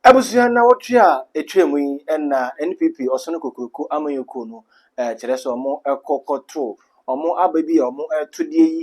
Abusua nnawɔtwe a etwaam yi na NPP Ɔsono Kokuroko Amanyɔkuo no kyerɛ sɛ wɔkɔ kɔto wɔn aba bi a wɔreto deɛ yi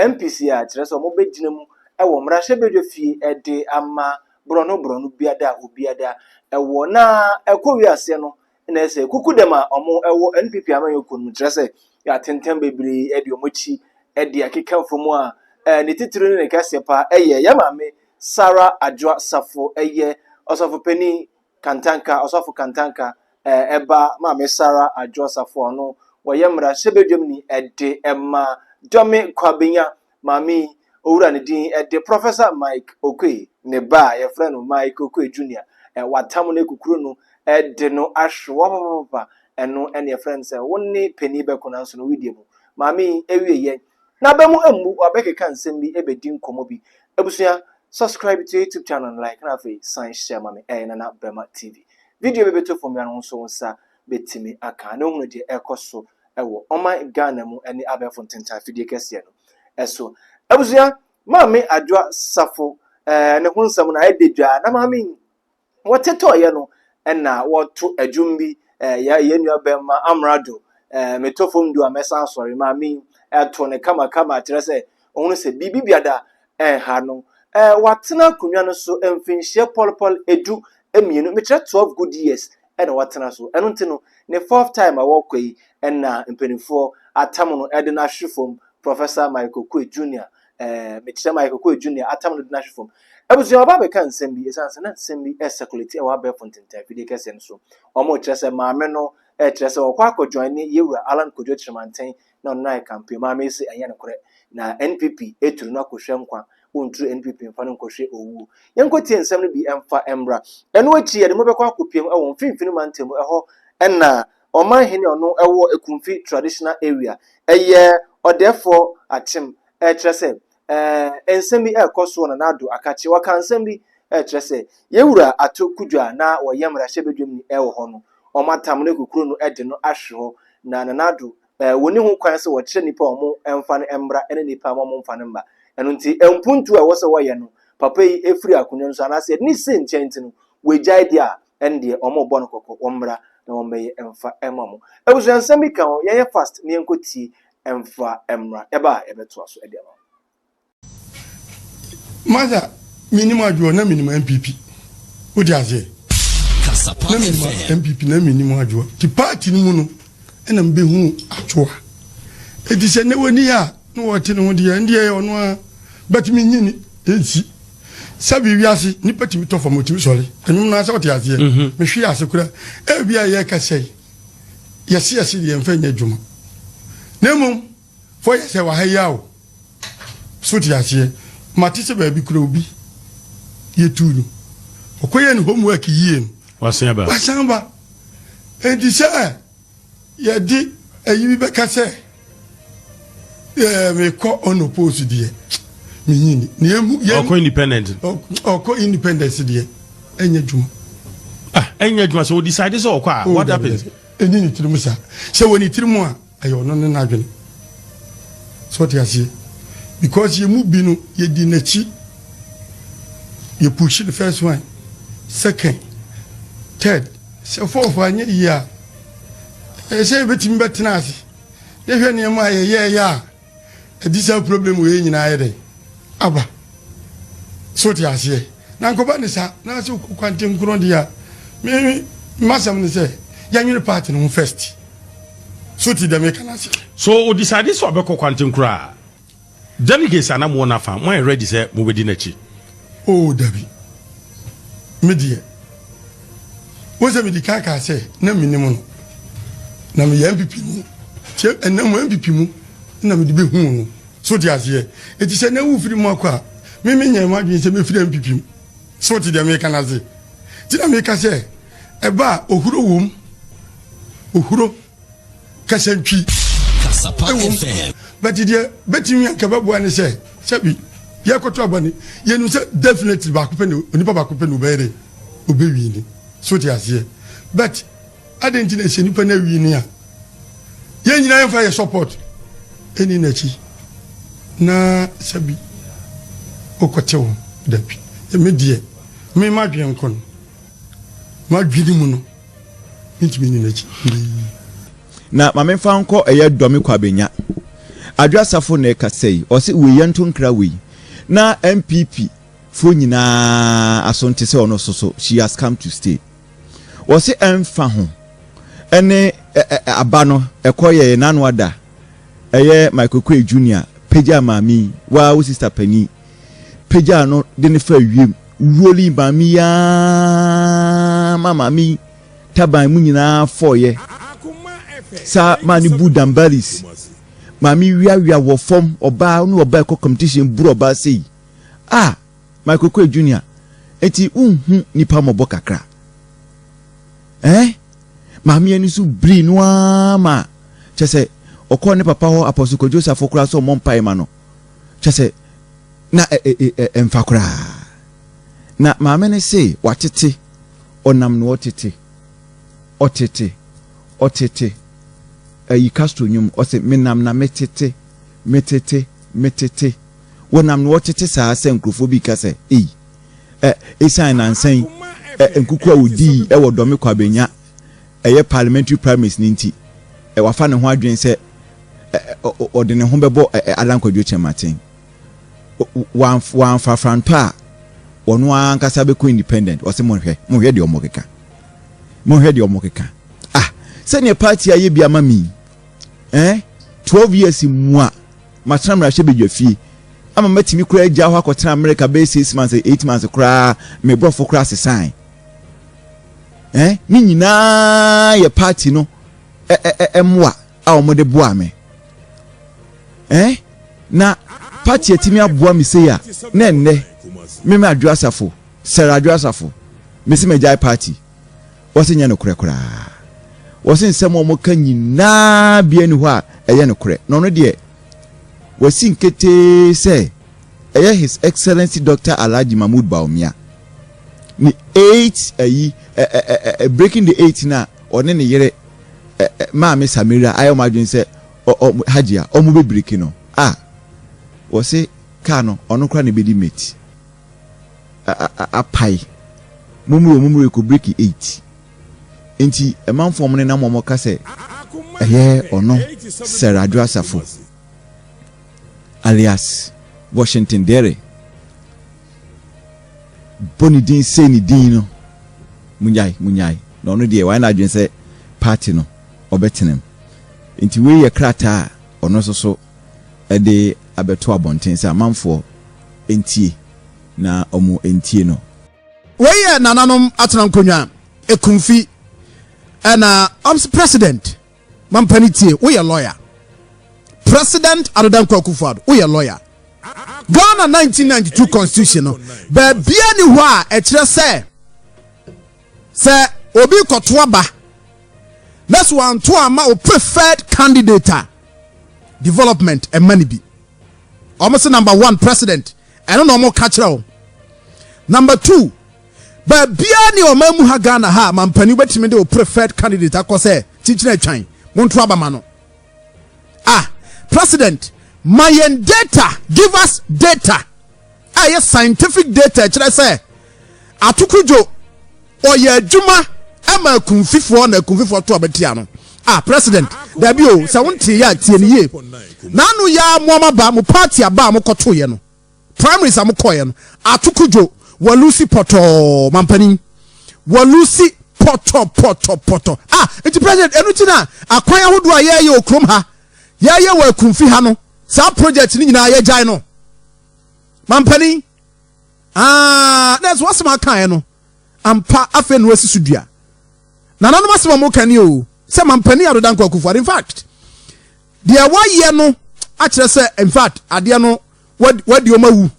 MPC a kyerɛ sɛ wɔbɛgyina mu wɔ mmarahyɛbadwa fie de ama borɔno borɔno biada a obiada wɔ na ɛkɔwie aseɛ no na ɛsɛ kuku dɛm a ɔmo ɛwɔ npp amanyɔ kuo no kyerɛ sɛ yɛatenten bebree ɛde ɔmo akyi ɛde akeka mfo mu a ɛɛ ne titiri ne ne kɛseɛ paa ɛyɛ yɛ maame Sarah Adwoa Safo ɛyɛ ɔsɔfo panin Kantanka ɔsɔfo Kantanka ɛɛ ɛba maame Sarah Adwoa Safo a ɔno wɔyɛ mmara hyɛbadwam ni ɛde ɛma Dɔme Kwabenya maame yi, owura ne din de Professor Mike Okoe, ne ba a yɛfrɛ no Mike Okoe Junior, watam no akukuru no de no ahwe wɔpapapapa, ɛno ne yɛfrɛ no sɛ wo ne panin bɛko nanso no wodie mu. Maame yi ewie yɛ, n'aba mu mmu, wabɛkeka nsɛm bi ebedi nkɔmmɔ bi. Abusua, subscribe to YouTube channel no like na afei san hyɛ ma me, ɛyɛ Nana Bɛma TV. Video bi bɛtɔ fam biara no ho nso wo nsa. bɛtumi aka na ɔhunu deɛ ɛrekɔ so wɔ ɔman Ghana mu ne abɛɛfo ntentan fidie kɛseɛ no so. Abusua, Maame Adwoa Safo eh, ne ho nsɛm no ayɛ dɛ na maame yi wɔte tɔɔyɛ no na wɔto adwom bi eh, yɛ yɛn nua bɛmma Amrado eh, metɔ fam du a mɛsan asɔre maame yi ɛto ne kamakama kyerɛ sɛ ɔhunu sɛ biribi biada ɛha no. Ɛɛ watena akonnwa no so mfinhyia pɔlepɔle edu mmienu, mekyerɛ twelve good years ɛna watena so. Ɛno nti no, ne fourth time a ɔrekɔ yi ɛna mpanimfoɔ atam no ɛde no ahwe fam, Professor Michael Okoye Junior, ɛɛ mekyerɛ Michael Okoye Junior atam no de no ahwe fam. Abusua ɔba abɛka nsɛm bi ɛsiane sɛ na nsɛm bi ɛresekuleti ɛwɔ abɛɛfo ntentan fidie kɛseɛ no so. Wɔn rekyerɛ sɛ maame no ɛrekyerɛ sɛ ɔkɔ akɔ joine Yɛwura Allan Kojo Kyeremanteng na ɔno na ayɛ campaign maa mese ɛnyɛ nokorɛ na NPP ɛturu no akɔhwɛ nkwa wɔnturu NPP mfa no nkɔhwɛ owuo yɛnkɔtie nsɛm no bi ɛmfa ɛmmra ɛno akyi yɛde mobɛkɔ akɔpiam ɛwɔ mfimfini mantam ɛhɔ ɛna ɔman hene ɔno ɛwɔ Ekumfi traditional area ɛyɛ ɔdɛɛfoɔ akyem ɛkyerɛ sɛ eh, nsɛm bi ɛrekɔ soɔ na n'ado aka kyerɛ wɔka nsɛm bi ɛkyerɛ sɛ yɛwura ato kudwa a na wɔyɛ mmarahyɛ badwam ni ɛwɔ hɔ no wɔn atam no kukuro no ɛde no ahwe hɔ na nanado eh, wɔni ho kwan sɛ wɔkyerɛ nipa a wɔn ɛmfa no ɛmmra ɛne nipa a wɔn mfa no mma ɛno nti mpuntu a ɛwɔ sɛ wɔyɛ no papa yi ɛfiri akonnwa no so anaasɛ ɛde ne si nkyɛn nti no wɔagyae deɛ a ɛne deɛ wɔn rebɔ no kɔkɔ wɔn mmra na wɔn bɛyɛ ɛmfa ɛma mo abusua nsɛm bi ka ho yɛnyɛ fast na yɛnkɔtie mfa mmra. Ɛba a, yɛbɛtoa so de ama wo. Martha, Mennim adwoɔ, na mennim NPP. Wode aseɛ? Na mennim NPP, na mennim adwoɔ. Nti party no mu no, ɛna mebɛhuu adwoa. Ɛti sɛ nnɛ wɔni a, na wɔte ne ho deɛ, ɛndeɛ yɛ ɔno ara. But menyini, ɛnsi. Sɛbi wiase, nipa tumi tɔ fam, ɔtumi sɔre. Ɛnwom no ara sɛ wote aseɛ. Mehwee ase koraa. Ɛbia yɛkasɛi. yɛse yɛse deɛ yɛmfa nyɛ adwuma na mmom fɔ yɛ sɛ waha yi a o so te aseɛ mate sɛ baabi kura obi yɛtu no ɔkɔyɛ ne homework yie no wasan ba wasan ba enti sɛ yɛde ayi bi bɛka sɛ Yeah, me kɔ on oppose deɛ me nyini na emu yɛn ɔkɔ independent ɔkɔ independence deɛ ɛnyɛ adwuma ah ɛnyɛ adwuma sɛ o decide sɛ ɔkɔ a oh, what happens ɛni ne tirim saa sɛ wɔ ne tirim a ɛyɛ ɔno ne n'adwene sɛ ɔte aseɛ because yɛ mu bi no yɛdi n'akyi yɛ push the first one second third sɛ fourth anyɛ yie a Ɛyɛ sɛ yɛbɛtumi bɛtena ase na yɛhwɛ nneɛma a yɛyɛɛyɛ a ɛde saa problem wei nyinaa ayɛ dɛn aba. So te aseɛ? Na nkɔba ne saa na sɛ wokɔ kwante nkorɔ deɛ a me masɛm ne sɛ yɛnwene part no ho first. So te deɛ meka no aseɛ? So o decide sɛ ɔbɛkɔ kwante nkorɔ a? Delegates a na mowɔ n'afa, moayɛ ready sɛ mobɛdi n'akyi? Oo, dabi. Me deɛ, wohu sɛ medi kan kaa sɛ na mennim no. Na meyɛ NPP ni. Nti ɛnnɛ mo NPP mu na mede bɛhuu no. So wote aseɛ? Enti sɛ nnɛ wofiri mu akɔ a, me menyɛɛ m'adwene sɛ mɛfiri NPP mu. So wote deɛ mereka no ase? Nti na meka sɛ ɛba a, ohuro wom. Ohuro. kasa ntwi ɛwom bɛti deɛ bɛtumi anka bɛboa ne sɛ sɛbi yɛkɔto abɔne yɛnim sɛ definitely baako pɛ ne onipa baako pɛ ne ɔbɛyɛ dɛ ɔbɛwii ne so te aseɛ but adɛn nti na ɛsɛ nipa no awii ne a yɛn nyina yɛmfa yɛ support ɛni n'akyi na sɛbi wokɔte ho dabi ɛme deɛ mema dwen nko no madwene mu no Mentumi nni n'akyi hwee. Na ma memfa nkɔ ɛyɛ dɔ me kɔ abɛnya. Adwo Asafo na ɛkasa yi, ɔse wei yɛnto nkra wei na NPP foɔ nyinaa aso nte sɛ ɔno so so she has come to stay. Ɔse ɛmfa ho ɛne ɛ ɛ aba no ɛkɔ yɛɛ n'ano ada ɛyɛ Michael Okoye Junior pagya maame yi waa wo sister panin. pagyaa no de no faa wiem. Wuo no maa me yi ara ma maame yi taban mu nyinaa fɔeɛ saa maa ne bu dambalis maame wiawia wɔ fam ɔbaa ne ɔbaa ɛkɔ competition buru ɔbaa sɛ yi a Michael Kwe Junior eti wonhu nipa mmɔbɔ kakra ɛɛ eh? maame yɛn nso biri no ara ma kyɛ sɛ ɔkɔɔ ne papa hɔ apɔso kwadwo safo koraa sɛ ɔmmɔ mpae ma no kyerɛ sɛ na ɛ ɛ ɛ ɛmfa koraa. Na maame no se watete, ɔnam no ɔtete, ɔtete, ɔtete, ayi Castro nnwom, ɔse menam na metete, metete, metete, wɔnam no ɔtete saa sɛ nkurɔfoɔ bi reka sɛ, ei, ɛ, ɛsiane nansa yi, ɛ, nkuku a wɔdii wɔ Dɔme Kwabenya, ɛyɛ parliamentary primaries no nti, wafa ne ho adwene sɛ ɔde ne ho bɛbɔ Alan Kwadwo Kyerematen. Wamfa frantɔ a, ɔno ara ankasa bɛkɔ independent. Ɔse monhwɛ, monhwɛ deɛ ɔmo keka. Monhwɛ deɛ ɔmo keka. Ah, sɛdeɛ party ayɛ bi ama me eh, 12 years mu a matena mmarahyɛ badwa fie ama matumi koraa agya hɔ akɔtena America bɛyɛ 6 months, 8 months koraa, me borɔfo koraa sesae. Ɛɛ, ne nyinaa yɛ paati no mmoa a wɔde boa me. Ɛɛ, na paati atumi aboa me sei a, na ɛnnɛ me me adwo asafo, sɛre adwo asafo, mesi magyae paati. Wɔse nyɛ nokorɛ koraa. Wɔse nsɛm a wɔka nyinaa bia ni hɔ a ɛyɛ nokorɛ. Na ɔno deɛ, wasi nketee sɛ. Ɛyɛ His Excellency Doctor Alhaji Mahmood Bawumia ne eight ayi ɛ ɛ ɛ ɛ breaking the eight no a ɔne ne yere ɛ ɛ maame Samira ayɛ wɔn adwene sɛ ɔ ɔ Hajia wɔn bɛ biriki no a wɔse kaa no ɔno kora na ebedi mate a a a apae mummiri wɔn mummiri kɔ biriki eight nti ɛmanfoɔ wɔn nenam wɔn ka sɛ ɛyɛ ɔno Sir Adwo Asafo. alias Washington Dere bɔ ne din sei ne din no, munyae, munyae, na ɔno deɛ wayɛ n'adwene sɛ party no ɔbɛtenam. Nti wei yɛ krataa a ɔno nso so de abɛto abɔnten sɛ amanfoɔ ntie na wɔn ntie no. Wei yɛ nananom atena nkonnwa, Ekumfi, ɛna ɔmse president. Mampa no tie, woyɛ lɔya. President Ado Dankwa Akufo-Addo, woyɛ lɔya. Ghana 1992 constitution no, baabiara ni hɔ a ɛkyerɛ sɛ sɛ obi kɔto aba na so anto ama o preferred candidate a development ɛma no bi. Wɔn se number one president, ɛno na wɔn ka kyerɛ wo. Number two, Baabiara ne ɔman mu ha Ghana ha a mampanin wobɛtumi de wo preferred candidate akɔ sɛ kyinkyin atwan monto aba ma no. Ah, President, ma yɛn data, give us data a ɛyɛ scientific data ɛkyerɛ sɛ atoko dwo ɔyɛ adwuma ɛma akunfifoɔ na akunfifoɔ to ɔbɛ tia no ah president dabi o sɛ wonte yɛ atie no yie n'ano yɛ a mo ama ba mo party aba a mo kɔto yɛ no primaries a mokɔeɛ no, Ato Kudwo, walusi pɔtɔɔ, mampanin, walusi pɔtɔpɔtɔpɔtɔ. Ah, nti President, ɛno nti na akwan ahodoɔ a yɛɛyɛ wɔ kurom ha, yɛɛyɛ wɔ Akumfi ha no, saa project no nyinaa yɛgyae no, mampanin. Ah, na ɛso asɛm akaeɛ no, ampa afei na wasi so dua. Nananom asɛm a wɔka ni o, sɛ mampanin Ado Dankwa Akufo-Addo, in fact, Deɛ wayɛ no akyerɛ sɛ infact adeɛ no wadi wɔn awu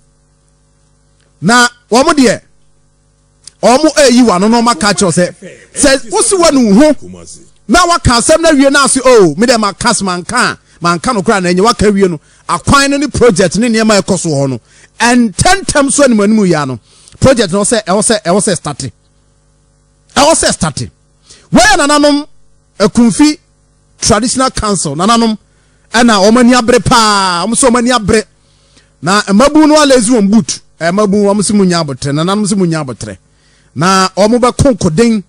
na wɔn deɛ wɔn ɛyi wɔn ano na wɔn aka akyerɛ sɛ sɛ wosi wɔn nu ho na waka asɛm na wie na ase o oh, mi deɛ ma kas ma nka a ma nka no koraa na ɛnyɛ waka wie no akwan no ne project ne nneɛma ɛkɔ so hɔ no ɛntɛntɛm so anim anim yia no project no sɛ ɛwɔ sɛ ɛwɔ sɛ starte ɛwɔ sɛ starte wɔyɛ nananom akunfi Traditional Council nananom na wɔn ani abere paa wɔn sɛ wɔn ani abere na mmabun no alezi wɔn boot mmabun wɔn sɛ mo nya abotire nananom sɛ mo nya abotire na wɔn bɛ konkoden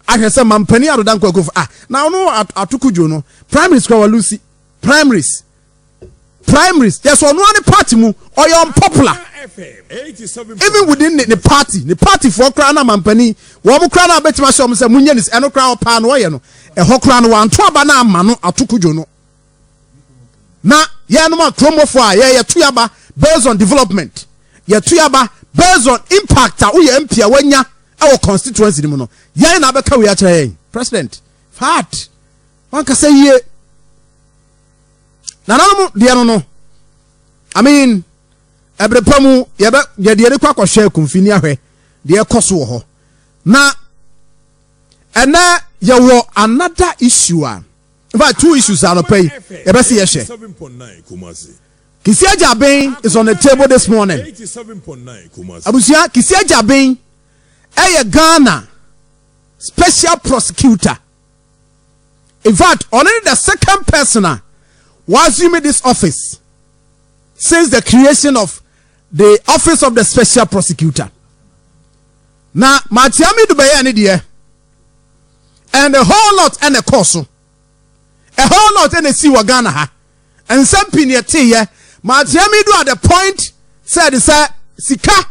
ahwɛ sɛ mampanin adoda nkwakufu ah na ɔno atoko dwo no primaries kura wɔn lusi primaries primaries yɛ sɛ ɔno ara ne party mu ɔyɛ unpopular even within ne ne party ne party foɔ koraa na mampanin wɔn koraa na abɛtumi ahyɛ wɔn sɛ mo nyɛ ne ɛno koraa ɔpaa no ɔyɛ no ɛhɔ koraa no wanto aba no ama no ato kodwo no na yɛnom a kuromofoɔ a yɛyɛ to yaba based on development yɛto yaba based on impact a woyɛ mp a wanya ɛwɔ constituency no mu no yɛn na abɛka wei akyerɛ yɛn president fat. Wankasa yie. Nananom deɛ no no, I mean, ɛbere pa mu yɛbɛ yɛde yɛde kɔ akɔhwɛ akumfi ne ahwɛ deɛ ɛkɔ so wɔ hɔ. Na ɛnɛ yɛwɔ another issue a, in fact two issues anɔpa yi yɛbɛ se yɛhwɛ. Kisi Agyabin is on the table this morning. Abusua Kisi Agyabin ɛyɛ Ghana special prosecutor. In fact, ɔno ne the second person a wɔassume this office since the creation of the office of the special prosecutor. Na Matiami do bɛyɛ ne deɛ and a whole lot ɛna ɛkɔɔ so. A whole lot ɛna ɛsi wɔ Ghana ha. Nsɛm pii na yɛteeɛ ma ateaa me do at the point sɛ ɛde sɛ sika,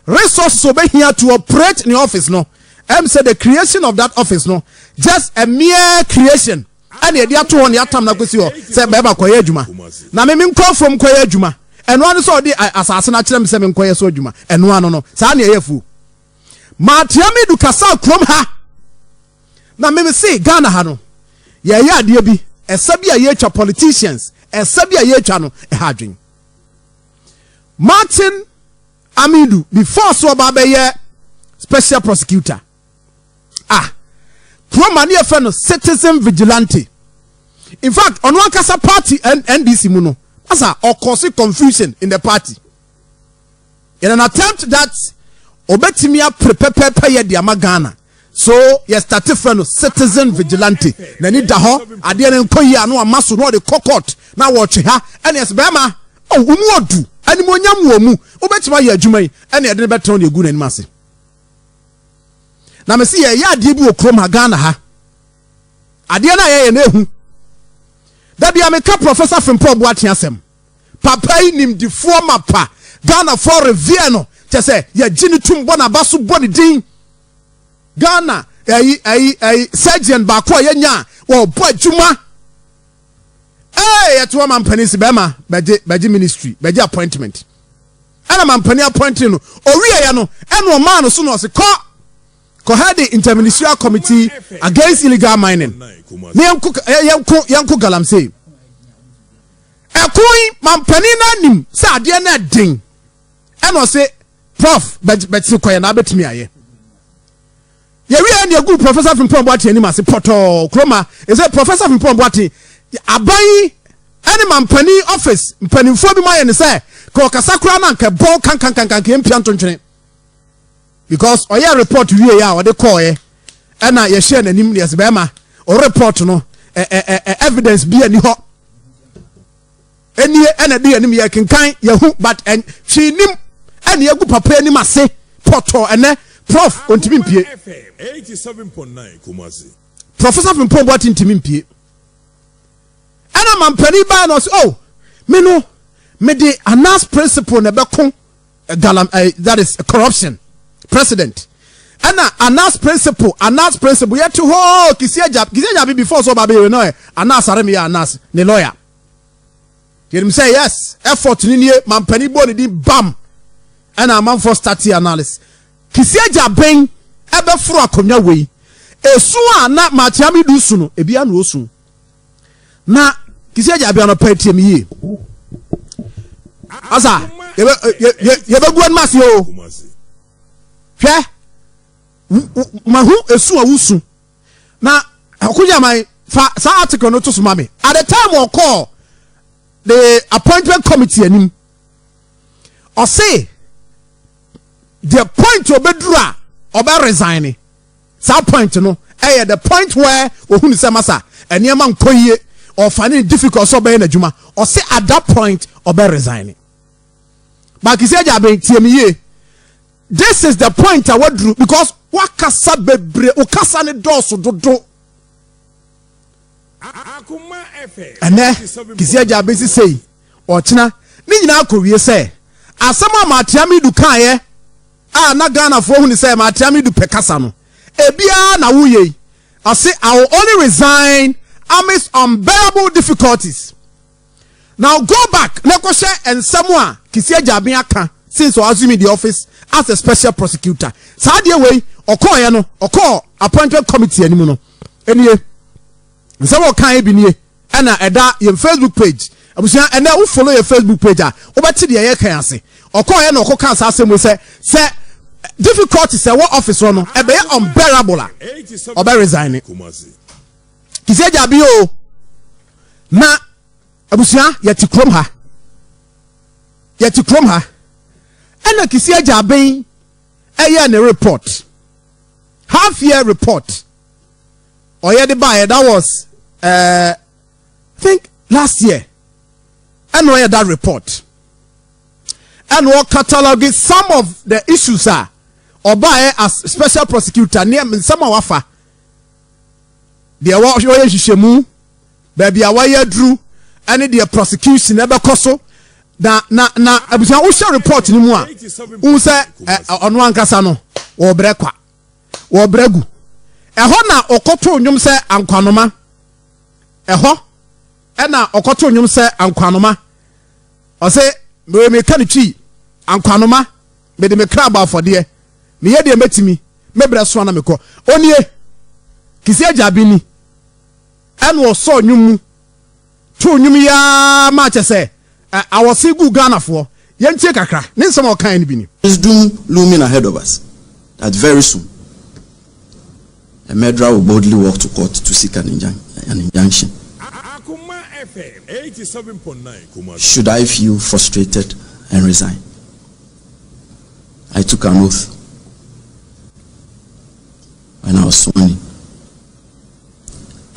resources a wɔbɛhia to operate ne office no. Ɛm sɛ the creation of that office no, just a mere creation ɛna yɛde ato hɔ na yɛatam no akɔsi hɔ sɛ bɛrima kɔyɛ adwuma na me menkɔ afuom kɔyɛ adwuma. Ɛno ano sɛ ɔde asase no akyerɛ me sɛ menkɔyɛ so adwuma. Ɛno ano no, saa na ɛyɛ afuo. Matea Medu kasaa kurom ha na meme se Ghana ha no yɛyɛ adeɛ bi ɛsa bi a yɛtwa politicians ɛsa bi a yɛtwa no ɛha adwen Martin Amidu before so ɔba bɛyɛ special prosecutor ah kurom a ne yɛfɛ no citizen vigilante in fact ɔno ankasa party NDC mu no asa ɔkɔse confusion in the party in an attempt that obetumi apere pɛpɛɛpɛ yɛ de ama ghana so yɛ start frɛ no citizen vigilante n'ani da hɔ adeɛ no nkɔ yie a na wama so na ɔde kɔ court na wɔtwe ha ɛne ɛsɛ bɛrima oh, wɔn mu odu animonyam wɔ mu wobɛtumi ayɛ adwuma yi ɛne ɛde no bɛtɛn ne egu n'anim ase na mesi yɛ yɛ adeɛ bi wɔ kurom ha ghana ha adeɛ no a yɛyɛ no ehu dabi a meka professor frimpɔ boaten asɛm Papa yi nimdefoɔ mapa. Ghanafoɔ revere no kyɛ sɛ yɛgye no tum bɔ n'aba so bɔ ne din. Ghana ɛyi ɛyi ɛyi surgeon baako a yɛnya a ɔbɔ adwuma. Ee yɛto ama mpanin si bɛrima bɛgye bɛgye ministry bɛgye appointment ɛna ma mpanin appointing no owie yɛ no ɛna ɔmaa no so na ɔsi kɔ kɔ head interministerial committee against illegal mining ne yɛn ko yɛn ko yɛn ko galamsey. Ɛko yi mampanin no anim sɛ adeɛ no ɛden ɛna ɔse prof bɛtse kɔyɛ na abɛtumi ayɛ yɛwie ɛne ɛgu professor Frimpong Boateng anim ase pɔtɔɔ kuroma ɛsɛ professor Frimpong Boateng aban yi ɛne mampanin office mpanimfoɔ bi mu ayɛ ne sɛ ka ɔkasa koraa na nka ɛbɔn kankankankan yɛmpia ntontwene because ɔyɛ report wie a ɔde kɔɔɛ ɛna yɛhyɛɛ n'anim yɛs bɛrima o report no ɛ ɛ ɛ evidence bi ani hɔ ɛnie ɛna ɛde anim yɛ kenkan yɛhu but ɛn hwee nim ɛne ɛgu papa anim ase pɔtɔ ɛnɛ prof ɔntumi mpie professor fimpɔn bɔ ati ntumi mpie ɛna mampanin baa na ɔsɛ oh me no mede anas principle na ɛbɛko Galam ɛɛ that is corruption president ɛna anas principle anas principle yɛ te hɔ kisi agya kisi agya bi before so ɔba bɛ yɛ no ɛ anas arem yɛ anas ne lawyer yɛnim sɛ yes effort ne nie mampani bɔ ne din bam ɛna amanfoɔ stati analysis kisi agya bɛn ɛbɛforo akonnwa wei esu a na maakyia mi du su no ebi ano osu. na kisi agya abia no pɛ tie mi yie asa yɛbɛ yɛbɛ yɛbɛgu anim ase o hwɛ ma ho esu a wosu na akoyaman fa saa article no to so ma mi at the time ɔkɔɔ the appointment committee anim ɔse the point obeduru a ɔbɛ resign ni. Saa point no yɛ the point where ɔhunu sɛ masa nneɛma nkɔ yie, ɔfane no difficult sɛ ɔbɛyɛ n'adwuma, ɔse at that point ɔbɛ resigne. But Kissi Agyaben, tie me yie, this is the point a waduru because wakasa bebree, wo kasa ne dɔɔso dodo. Ɛnɛ Kissi Agyaben sisei. Ɔkyena, ne nyinaa kɔwie sɛ asɛm a Maatiamidu kaeɛ a na Ghanafoɔ hu no sɛ Maatiamidu pɛ kasa no, ebiara na woyɛ yi, ɔse I will only resign amidst unbearable difficulties. Now go back na kɔhwɛ nsɛm a Kissi Agyabin ka since ɔ assuming the office as a special prosecutor. Saa adeɛ wei ɔkɔɔeɛ no, ɔkɔɔ appointment committee anim no nie. Nsɛm a ɔkaeɛ bi nie. Ɛna ɛda yɛn Facebook page. Abusua, ɛnɛ wo follow yɛn Facebook page a, wobɛte deɛ yɛreka yi ase. Ɔkɔeɛ na ɔkɔkaa saa asɛm wei sɛ, sɛ difficulties a ɛwɔ office hɔ no, ɛbɛyɛ unbearable a, ɔbɛ resigne. Kisi agya bi o. Na abusua, yɛte kurom ha. Yɛte kurom ha. Ɛna kisi agya ben ɛyɛ ne report. Half year report. ɔyɛ de baeɛ that was uh, think last year ɛna ɔyɛ that report ɛna ɔcatalogue some of the issues a ɔbaeɛ as special prosecutor ne nsɛm a wafa deɛ wɔyɛ nhyehyɛmu baabi a wɔyɛ aduru ɛne deɛ prosecution ɛbɛkɔ so na na na abusua wohyɛ report no mu a wohu sɛ ɔno ankasa no wɔbrɛ kwa wɔ Bragu. Ɛhɔ na ɔkɔtoo nnwom sɛ ankwanoma. Ɛhɔ na ɔkɔtoo nnwom sɛ ankwanoma. Ɔse, Mewei meka no twi, ankwanoma, mede me kra bɔ afɔdeɛ. Meyɛ deɛ mɛtumi, me berɛ soa na mekɔ. Ɔnie, Kisi Agya Abini, ɛna ɔsɔɔ nnwom mu. too nnwom yi ara ma kyɛ sɛ awɔse guu Ghanafoɔ. Yɛntie kakra, ne nsɛm a ɔkaeɛ no bi ni. Is doom looming ahead of us that very soon a murderer will boldly walk to court to seek an injunction? Should I feel frustrated and resign? I took an oath when I was sworn in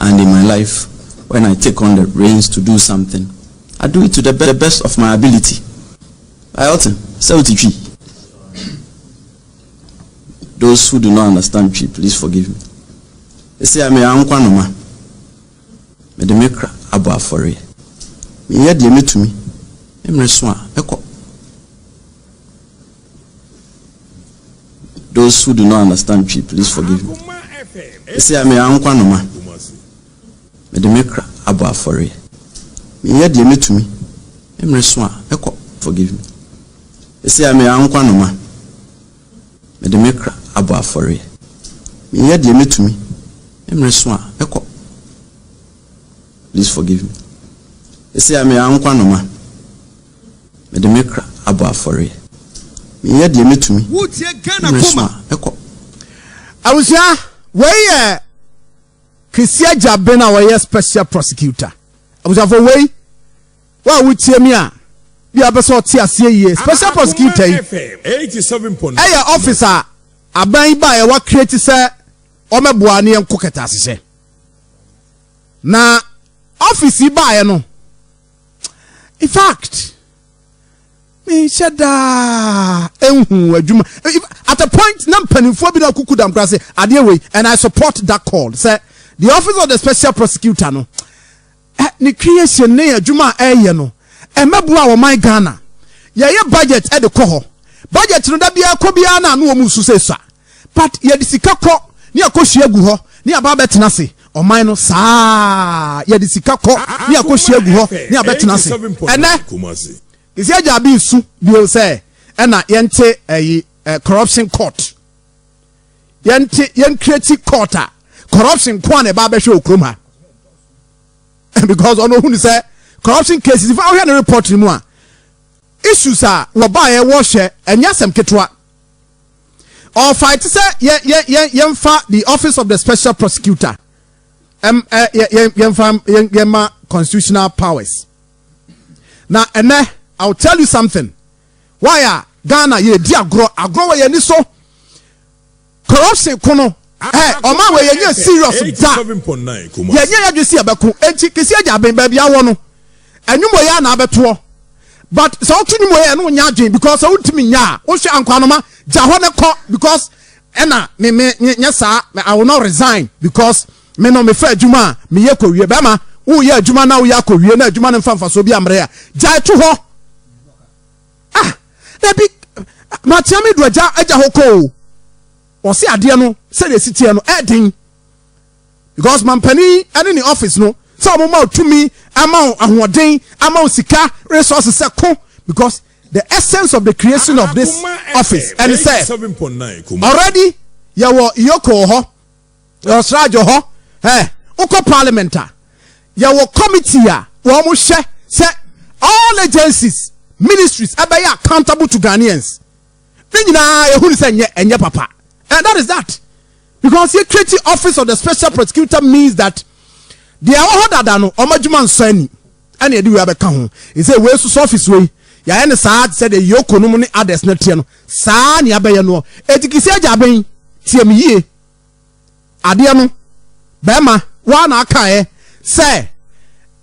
and in my life when I take on the reins to do something I do it to the best of my ability I otin sɛ oti twi those who do not understand twi please forgive me ɛsi a meyɛ ankwa noma mede me kra abɔ afɔreɛ meyɛ deɛ mɛtumi mmerɛ so a ɛkɔ Those who do not understand Twi please forgive me. Ɛsɛ a meyɛ ankwa noma. Mede me kra abɔ afɔreɛ. Meyɛ deɛ mɛtumi. Mmerɛ so a ɛkɔ forgive me. Ɛsɛ a meyɛ ankwa noma. Mede me kra abɔ afɔreɛ. Meyɛ deɛ mɛtumi. Mmerɛ so a ɛkɔ please forgive me. Ɛsɛ a meyɛ ankwa noma. Mede me kra abɔ afɔreɛ. Meyɛ deɛ mɛtumi na meresoma kɔ. Abusua, wei yɛ Kwesi Agyaben a ɔyɛ Special Prosecutor. Abusuafoɔ wei, wo a wotie me a, bia wopɛ sɛ ɔte aseɛ yie. Special Prosecutor yi, ɛyɛ office a aban yi baeɛ wa create sɛ ɔmɛboa ne yɛnko kɛtɛasehyɛ. Na office yi baeɛ no, in fact menhyɛ daa nhu adwuma at a point na mpanimfoɔ bi na kuku dam koraa sɛ adeɛ wei and i support that call sɛ the office of the special prosecutor no eh, ne creation ne adwuma a ɛyɛ no ɛmɛboa wɔ man ghana yɛyɛ budget ɛde kɔ hɔ budget no da biara kɔ biara na ano wɔn nsu sɛ sa But yɛde sika kɔ ne yɛakɔsua agu hɔ ne yɛaba abɛtena ase ɔman no saa yɛde sika kɔ ne yɛakɔsua agu hɔ ne yɛabɛtena ase ɛnɛ kɛsi agya abi nsu bio sɛ ɛna yɛnte ɛyi ɛ corruption court yɛnte yɛnkreti court a corruption nko a na ɛba abɛhwɛ wɔ kurom ha because ɔno ohun sɛ corruption cases nfa ɔhwɛ ne report no mu a issues a wɔbaeɛ wɔhwɛ ɛnyɛ asɛm ketewa. ɔrefaete sɛ yɛ yɛ yɛ yɛmfa the office of the special prosecutor ɛm ɛ yɛ yɛ yɛmfa yɛ yɛma constitutional powers na ɛnɛ i will tell you something why a ghana yɛredi agorɔ agorɔ wɔ yɛn ani so corruption ko no. Ɛhɛɛ ɔmaa wei yɛnyɛ serious da yɛnyɛ yɛdwen sɛ yɛbɛko enti kesi agya aben baabi awɔ no ɛnwom wei ara na abɛtoɔ but sɛ woto nwom wei a ɛne wonyɛ adwen because sɛ wontumi nyɛ a wohwɛ ankwanoma gya hɔ ne kɔ because ɛna me me nyɛ saa I will not resign because me no mefa adwuma a meyɛ kɔwie bɛma woyɛ adwuma na woyɛ akɔwie na adwuma no mfa mfasoɔ bi ammerɛ a gyae to hɔ ah dabi matea me do agya agya hɔ kɔ o Ɔse adeɛ no sɛdeɛ ɛsi teɛ no ɛɛden because mampanin ɛne ne office no sɛ ɔmo ma wo tumi ama wo ahoɔden ama wo sika resources sɛ ko because the essence of the creation of this office ɛne sɛ already yɛwɔ Iyoko wɔ hɔ yɛwɔ Srajo hɔ ɛɛ wokɔ parliament a yɛwɔ committee a wɔn mo hyɛ sɛ all agencies ministries ɛbɛyɛ accountable to Ghanaians. Ne nyinaa yɛhu no sɛ ɛnyɛ ɛnyɛ papa and that is that because yɛ create office of the special prosecutor means that deɛ ɛwɔ hɔ dada no wɔn adwuma nsɔ ani ɛna yɛde wei abɛka ho nsɛ wei soso office wei yɛayɛ no saa sɛ deɛ yoko nom ne others no teɛ no saa ne abɛyɛ noɔ ɛtikisi agya abɛn tie me yie. Adeɛ no bɛɛma waa na aka ɛ sɛ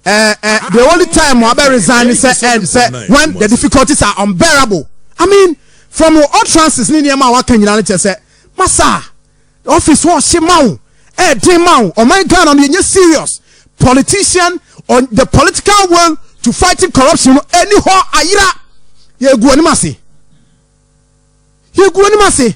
eh eh the only time wa bɛ resign ne sɛ eh sɛ when the difficulties are unbearable I mean from wo utterances ne nneɛma a waka nyinaa no kyerɛ sɛ masa office hɔ ɔhye ma wo ɛyɛ den ma wo ɔman Ghana no yɛnyɛ serious politician on the political will to fighting corruption no ɛni hɔ ayera yɛgu anim ase yɛgu anim ase.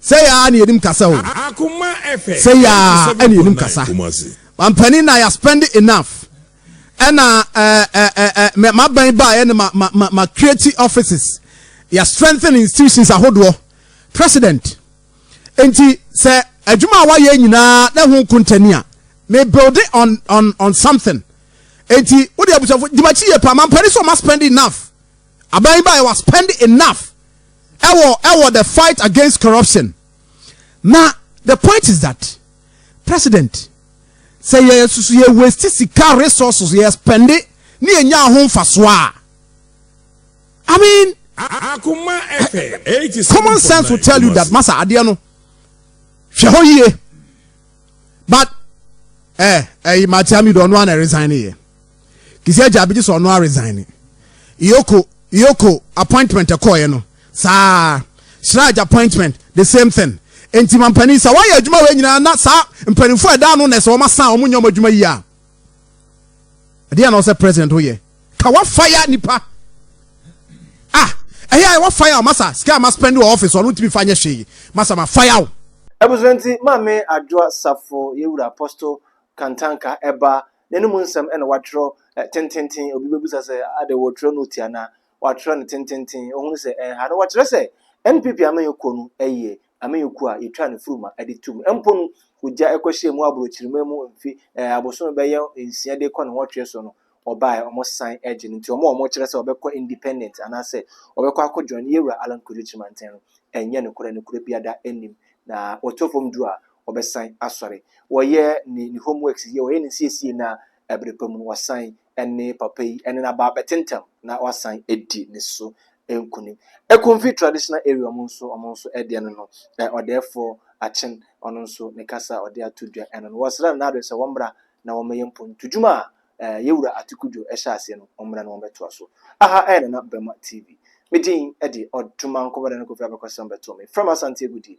Sɛ yɛ ara na yɛnim kasa o. Sɛ yɛ ara na yɛnim kasa. Mampanin na yɛ spend enough. Ɛna ɛɛ maban baayɛ no ma ma ma ma create offices. Yɛ strengthen institutions ahodoɔ. President. Nti sɛ adwuma a wayɛ nyinaa na ho kontani a me build on on on something. Nti wode abusafo dwumakyi yɛ paa mampanin sɛ ɔma spend enough. Aban yi baeɛ wa spend enough ɛwɔ ɛwɔ the fight against corruption na the point is that president sɛ yɛ susu yɛ waste sika resources yɛ spende ne yɛ nya ho nfasoɔ a I mean common sense will tell you that masa adeɛ no hwɛ hɔ yie. but ɛ ɛyi matia mi do ɔno ana resign yɛ kisi agya abigye sɛ ɔno a resign yoko yoko appointment ɛkɔɔ yɛ no saa hyira agya appointment the same thing nti mampanin sɛ wɔayɛ adwuma wɔ nyinaa na saa mpanimfoɔ ɛda ano na ɛsɛ wɔn asan wɔn nyɛ wɔn adwuma yie a. ɛdeɛ na ɔsɛ president woyɛ ka wa fire nipa ah ɛyɛ ayɛ wa fire masa sika ma spend wɔ office ɔno ntumi fa nyɛ hwee masa ma fire wo. Abusua nti maame adwoa safo yɛwura apostle kantanka ɛba ne ne mu nsɛm ɛna watwerɛ tententen obi bɛbusa sɛ adɛ wɔtwerɛ no ti anaa watwerɛ no tententen ohunu sɛ ɛnha no wɔkyerɛ sɛ NPP amanyɛ kuo no ɛyɛ amanyɔkuo a yɛtwaa no furuma de tu mu mpo no, ogya kɔhyɛɛ mu aborɔkyirima mu mfe eh, abosome bɛyɛ nsia de kɔ ne nwɔtwe so no, ɔbaeɛ, wɔsan gye no. Nti wɔn a wɔkyerɛ sɛ wɔbɛkɔ independent anaasɛ wɔbɛkɔ akɔ join yɛn wura Allan Kwesi Kyeremanteng no, ɛnyɛ nokorɛ, nokorɛ biada nnim. Na wɔtɔ fam du a, wɔbɛsan asɔre. Wɔyɛ ne, ne homeworks yie, wɔyɛ ne nsiesie na ɛberɛ pa mu no, wɔsan ne papa yi ne n'aba abɛte ntɛm na wasan adi ne so nkunim. Ekumfi traditional area ɔmo nso ɔmo nso deɛ no no ɔdɛɛfoɔ Akyen ɔno nso ne kasa a ɔde ato dwa ɛno no wɔsrɛ no n'adɔe sɛ wɔmmra na wɔmmɛyɛ mpontudwuma a Yɛwura Ate Kudwo ɛhyɛ aseɛ no wɔmmra na wɔmmɛtoa so. Aha ɛyɛ Nana Bɛma TV. Me din de Ɔdomankɔ Bɛda no Kofi Abɛkɔsɛm Bɛto me frɛ me Asante Agudie.